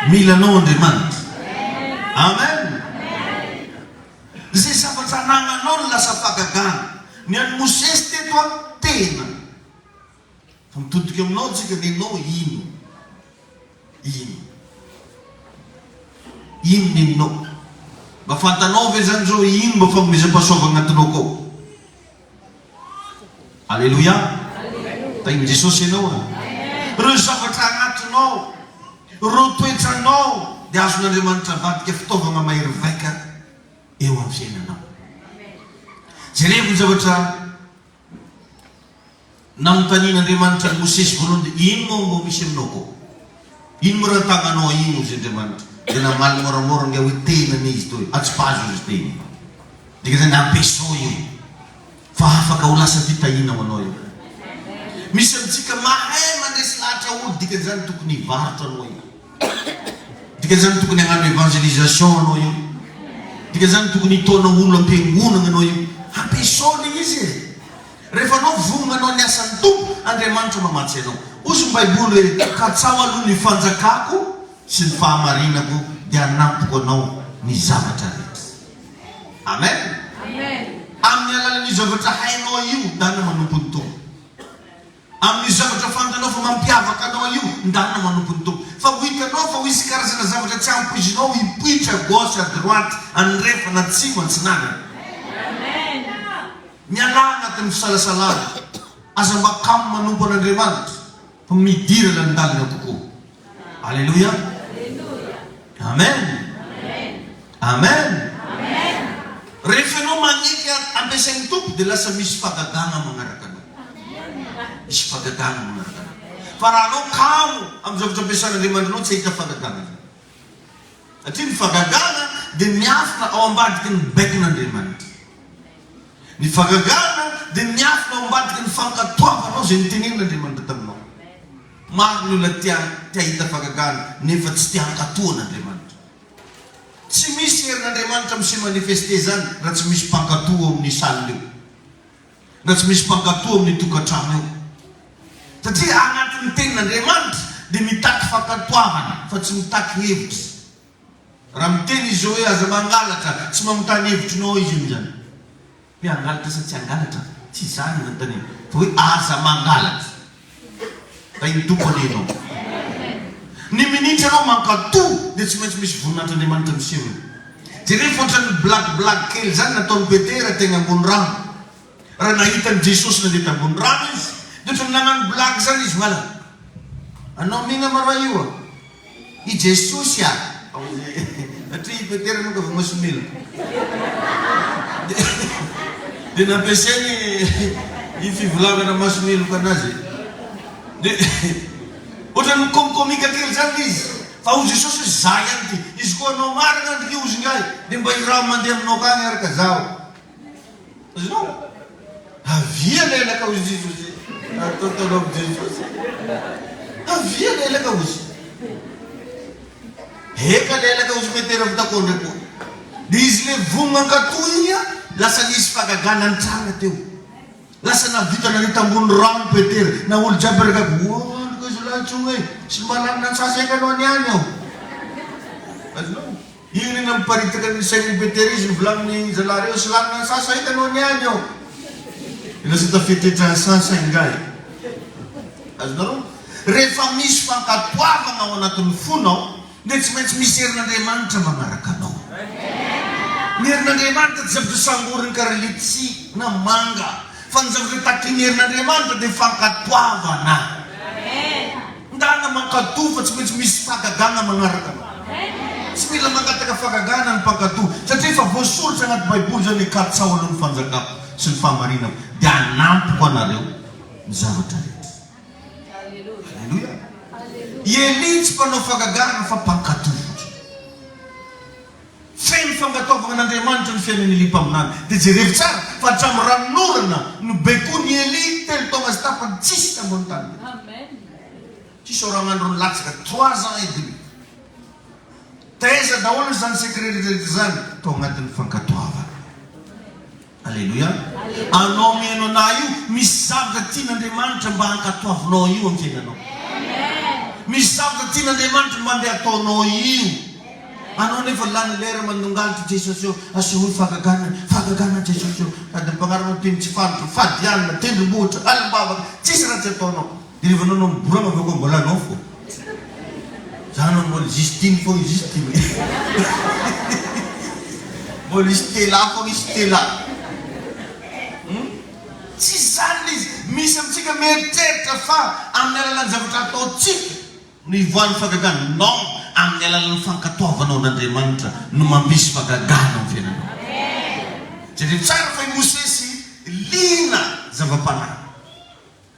Mila anao Andriamanitra. Amen. Zay zavatra anagnanao no lasa fahagagana. Ny an'i Mosesy teto an, tena. Fa mitodika aminao isika dia ianao ino? Ino? Ino ny ininao? Mba fantanao ve izany izao ino mba fanomezam-pahasoavana antinao kao? Aleloia! Tahin'i Jesosy ianao a! Ireo zavatra anatinao, ireo toetranao dia azon'Andriamanitra avadika fitaovana mahery vaika eo amin'ny fiainanao. Jerevo ny zavatra Nanontanian' Andriamanitra an' i Mosesy voalohany dia, Ino moa ngo misy aminao koo? Ino moa rantagnanao ino? Hozy Andriamanitra. Dia namaly môramôra ngah hoe, Tena ny izy toa e, atsipazo izy teo iny. Dikan'izany, ampiasao io fa afaka ho lasa fitahiana ho anao io. Misy amintsika mahay mandresy lahatra olo, dikan'izany tokony hivarotra anao io. Dika zany tokony agnano evangelisation anao io dika zany tokony hitaona olo ampiangonagna anao io hampiasao le izy e refa anao voa manao ny asany tompo Andriamanitra mamatsy anao ozy ny baiboly oe katsaho aloha ny fanjakako sy ny fahamarinako de hanampiko anao ny zavatra rehetra amen aminy alalan'io zavatra hainao io dana manompo ny tompo Amin'io zavatra fantanao fa mampiavaka anao io, ndanina manompo ny Tompo. Fa ho hitanao fa ho hisy karazana zavatra tsy ampoizinao hipoitra à gauche à droite, andrefana, atsimo, atsinanana. Mialà anatin'ny fisalasalana. Aza mba kamo manompo an'Andriamanitra fa midira lalindalina kokoa. Aleloia! Amen! Amen! Rehefa ianao manefy azy ampiasain'ny Tompo dia lasa misy fagadana manaraka anao. Misy fagadana manaraka anao. Fa raha anao kamo amin'ny zavatra ampiasan'Andriamanitra anao tsy hahita fagadana ianao. Satria ny fagadana dia miafina ao ambadiky ny baikon'Andriamanitra. Ny fagadana dia miafina ao ambadiky ny fankatoavanao izay notenenin'Andriamanitra taminao. Maro ny olona te hahita fahagagana nefa tsy te hankatò an'Andriamanitra. Tsy misy herin'Andriamanitra mi se manifester izany raha tsy misy mpankatò ao amin'ny salle eo. Raha tsy misy mpankatò ao amin'ny tokantrano eo. Satria anatin'ny tenin'Andriamanitra dia mitaky fankatoavana fa tsy mitaky hevitra. Raha miteny Izy hoe aza mangalatra, tsy manontany hevitrinao Izy amin'izany. Hoe hangalatra sa tsy hangalatra? Tsy izany no nanontaniana, fa hoe aza mangalatra. Tahin'ny Tompo anie ianao. Ny minitra ianao mankatò dia tsy maintsy misy voninahitr'Andriamanitra miseho eo. Jereo fa ohatran'ny blague blague kely izany nataon'i Petera teny ambony rano. Raha nahita an'i Jesosy nandeha tambony rano izy, dia ohatran'ny nanano blague izany izy, Malala, anao mihinama raha io an! I Jesosy a! Satria i Petera aloha efa masomeloka. Dia nampiasainy io fivolagana masomeloka anazy e. Dia ohatran'ny mikomikomika kely izany ilay izy. Fa hoy Jesosy hoe, Izaho ihany ity. Izy koa hanao marina andrika hozy ingahy, dia mba iraho mandeha aminao akany ary ka zaho. Zao? Avia lelaka ozy ozy Atao tolo am Jesosy Avia lelaka ozy Eka lelaka ozy Petera vita kondra koa Dia izy le vonona hankato iny a Lasa nisy fagagana nitranga teo Lasa nahavita nanita ambony rano Petera Na olo jiaby ragaby Woa andriko izy lahy tsoa e Tsy mba lany nantsasa eka anao niany aho Azonao? Hirina miparitaka ny sain'i Petera izy volanin'ny zalahy reo sy lanina ny sasa hitany ho any any eo de lasa tafetetra ny sasa ingahy azonareo rehefa misy fankatoavana ao anatin'ny fonao dia tsy maintsy misy herin'Andriamanitra manaraka anao ny herin'Andriamanitra tsy zavatra sangorin'ny kara letchi na manga fa ny zavatra takin'ny herin'Andriamanitra dia fankatoavana. Ndana mankatò fa tsy maintsy misy fahagagana manaraka anao. Tsy mila mangataka fahagagana ny mpankatò satria efa voasoritra anaty baiboly izany hoe katsaho aloha ny fanjakako sy ny fahamarinako dia hanampiko anareo ny zavatra rehetra. Aleloia. I Elia tsy mpanao fahagagana fa mpankatò fotsiny. Feno fankatoavana an'Andriamanitra ny fiainan'i Elia mpaminany. Dia jerevo tsara fa hatramin'ny ranon'orana no baikoin'i Elia telo taona sy tapany tsisy tambo ny tany teo. Tsisy oragn'andro nilatsaka, trois ans et demi. Taiza daholo izany secret rehetra izany? Tao anatin'ny fankatoavana. Aleloia! Anao mihaino anah io, misy zavatra tian'Andriamanitra mba hankatoavinao io amin'ny fiainanao. Misy zavatra tian'Andriamanitra mba ndeha hataonao io. Anao anefa lany lera mandongalitra Jesosy ô, asehoy fahagagana, fahagagana Jesosy ô, sady ny mpagnaraka mpino tsy fandro, fady alina, tendrombohitra, alim-bavaka, tsisy raha tsy ataonao. Dia rehefa nanao ny bourama avy eo koa mbola anao fô. Za nanao mbola juste iny fô izy juste iny e. Mbola i Stella fôgna i Stella. Hum? Tsisy zany ilay izy. Misy amintsika mieritreritra fa amin'ny alalan'ny zavatra ataontsika no ivoahan'ny fahagagana. Non, amin'ny alalan'ny fankatoavanao an'Andriamanitra no mampisy fahagagana amin'ny fiainanao. Jereo tsara fa i Mosesy liana zava-panahy.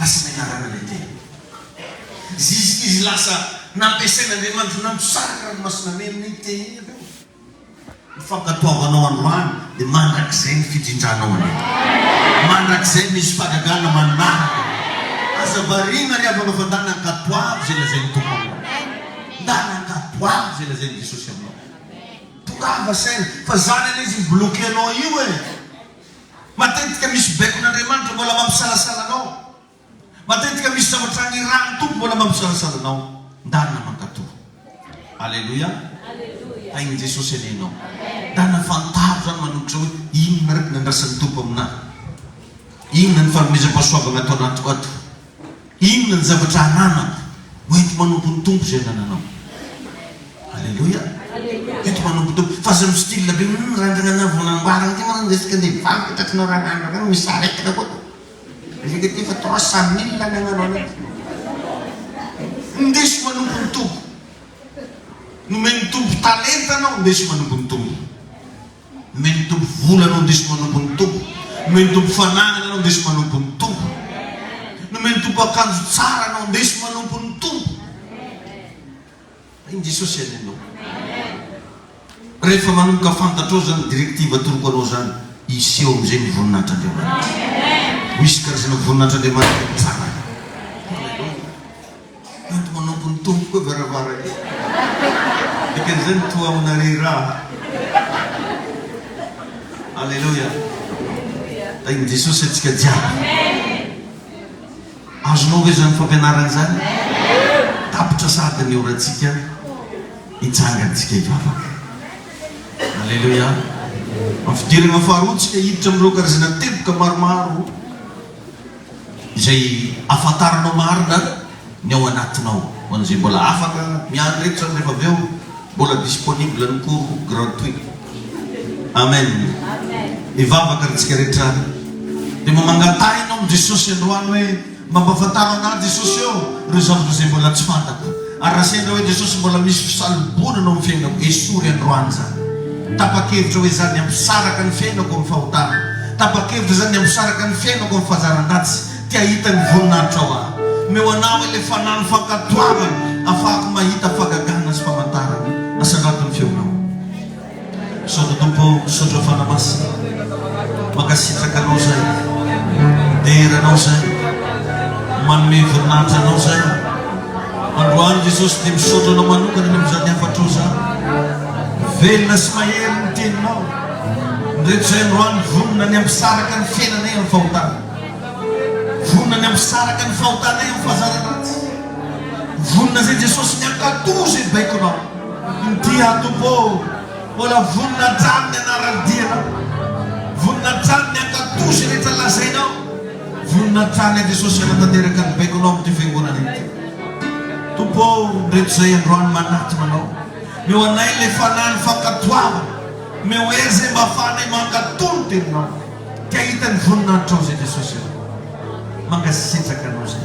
Asa ny anarana ilay teny. Zizikizy lasa nampiasain'Andriamanitra namosary ranomasina mena iny teny iny avy eo. Ny fankatoavanao androany dia mandrakizay ny fijinjanao anie. Mandrakizay misy fahagagana manaraka anie. Aza variana ry havana fa ndana ankatoavy izay lazain'ny Tompo aminao. Ndana ankatoavy izay lazain'i Jesosy aminao. Tongava saina fa zany anie izay mi-bloquer anao io e. Matetika misy baikon'Andriamanitra mbola mampisalasala anao. Matetika misy zavatra nirahan'ny Tompo mbola mampisalasala anao. Ndarina mankatò. Aleloia. Tahin'i Jesosy anie ianao. Ndarina fantaro izany manokitra hoe inona ary ny nandrasan'ny Tompo aminà. Inona ny fanomezam-pahasoavana ataonao ato. Inona ny zavatra ananako hoenti-manompo ny Tompo izay anananao? Aleloia! Hoenti-manompo ny Tompo. Fa aza mi-style be, humm randrana na vao namboarina ity moa ny resaka andeha hivarotra eto atratrina ao raha randrana any misy aretina koa. Resaka ity efa trois cent mille ny agnano anaty. Indeso manompo ny Tompo. Nomen'ny Tompo talenta anao, indeso manompo ny Tompo. Nomen' ny Tompo vola no indrisy manompo ny Tompo. Nomen' ny Tompo fananana no indrisy manompo ny Tompo. Nomen' ny Tompo akanjo tsara no indrisy manompo ny Tompo. Hay ny Jesosy any anao. Rehefa manomboka fantatrao izany directive atoroko anao izany, hiseho amin'izay ny voninahitr' Andriamanitra. Ho hisy karazana voninahitr' Andriamanitra mitsangana. Aleloia. Ato manompo ny Tompo koa varavarankely. Dikan'izany toa amina re ra. Aleloia. Tahin'i Jesosy antsika jiaby. Azonao ve izany fampianarana izany? Tapitra sahady ny orantsika, hitsanga antsika hivavaka. Aleloia. Amin'ny fidirana faharoa antsika hiditra amin'ireo karazana teboka maromaro. izay ahafantaranao marina ny ao anatinao. Ho an'izay mbola afaka, miandry reto izany rehefa avy eo mbola disponible ny cours gratuit. Amen. Mivavaka ary tsika rehetra dia mba mangatahina ao amin'i Jesosy androany hoe, mba ampafantaro an'ahy Jesosy ô, ireo zavatra izay mbola tsy fantako. Ary raha sendra hoe Jesosy mbola misy fisaloboana no amin'ny fiainako, esory androany izany. Tapa-kevitra hoe izany ny hampisaraka ny fiainako amin'ny fahotana. Tapa-kevitra izany ny hampisaraka ny fiainako amin'ny fahazaran-dratsy. Te hahita ny voninahitrao aho. Omeo anamay ilay fanahy ny fankatoavana, hahafahako mahita fahagagana sy famantarana. Asandrato ny feonao. Misaotra Tompo o, misaotra Fana Masina, mankasitraka Anao zay, midera Anao zay, manome voninahitra Anao zay. Androany Jesosy dia misaotra Anao manokana ny amin'izany hafatra ao zany. Velona sy mahery ny Teninao. Ny rehetra izay androany vonona ny hampisaraka ny fiainanay amin'ny fahotana. Vonona ny hampisaraka ny fahotanay amin'ny fahazara-dratsy. Vonona izay Jesosy ny hankatò izay baikonao. Inty aho Tompo ô, mbola vonona hatrany ny anaran'ny dianao, vonona hatrany ny hankatò izay rehetra lazainao, vonona hatrany aho Jesosy hanatanteraka ny baikonao amin'ity fiangonana ity. Tompo ô, indreto izay androany manatona anao, meo anay ilay fanahin'ny fankatoavana, meo ahy izay mba afahanay mankatò ny teninao, te hahita ny voninahitrao izay Jesosy ô. Mankasitraka anao izay.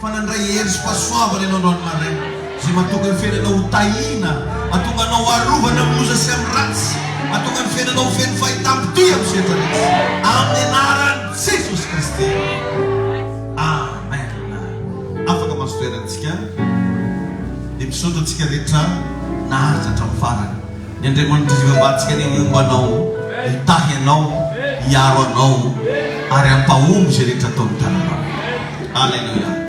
fa nandray hery sy fahasoavana ianao androany maraina, izay mahatonga ny fiainanao ho tahiana, mahatonga anao arovana amin'ny loza sy amin'ny ratsy, mahatonga ny fiainanao ho feno fahitam-potohy amin'ny sehatra rehetra, amin'ny anaran'i Jesosy Kristy, Amen. Afaka mahazo toerana isika, dia misaotra antsika rehetra naharitra hatramin'ny farany. Ny Andriamanitra Izay Ibabantsika anie homba anao, hitahy anao, hiaro anao, ary hampahomby izay rehetra ataon'ny tananao. Aleloia.